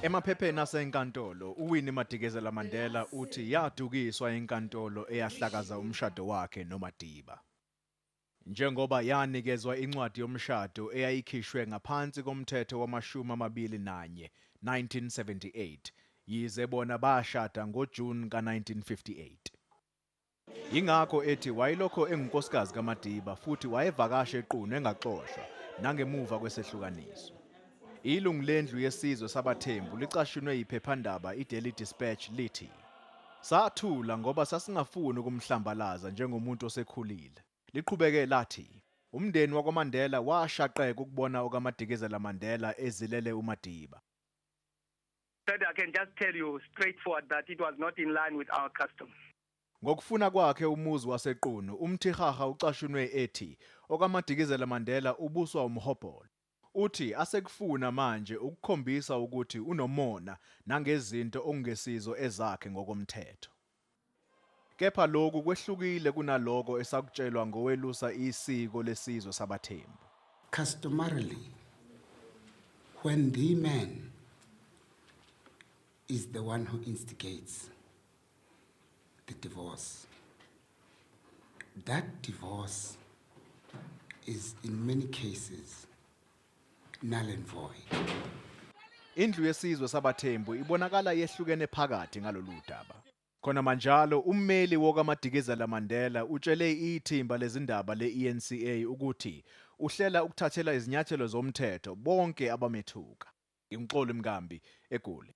Emaphepheni asenkantolo, uWinnie Madikizela Mandela uthi yadukiswa inkantolo eyahlakaza umshado wakhe noMadiba. Njengoba yanikezwa incwadi yomshado eyayikhishwe ngaphansi koMthetho wamashumi amabili nanye, 1978, yize bona bashada ngoJuni ka-1958. Yingakho ethi wayelokhu engunkosikazi kaMadiba futhi wayevakasha eQunu engaxoshwa, nangemuva kwesehlukaniso. Ilungu lendlu yesizwe sabathembu licashunwe yiphephandaba iDaily Dispatch lithi sathula ngoba sasingafuni ukumhlambalaza njengomuntu osekhulile. Liqhubeke lathi umndeni wakwaMandela washaqeka ukubona okaMadikizela Mandela ezilele uMadiba. That I can just tell you straightforward that it was not in line with our custom. Ngokufuna kwakhe umuzi waseQunu, uMthirharha ucashunwe ethi okaMadikizela Mandela ubuswa umhobholo. Uthi asekufuna manje ukukhombisa ukuthi unomona nangezinto okungesizo ezakhe ngokomthetho. Kepha loku kwehlukile kunaloko esakutshelwa ngowelusa isiko lesizwe sabaThembu. Customarily, when the man is the one who instigates, the divorce. That divorce is in many cases null and void. Indlu yesizwe sabathembu ibonakala yehlukene phakathi ngalolu daba. Khona manjalo ummeli wokaMadikizela Mandela utshele ithimba lezindaba le-ENCA ukuthi uhlela ukuthathela izinyathelo zomthetho bonke abamethuka. Ngimxoli Mkambi eGoli.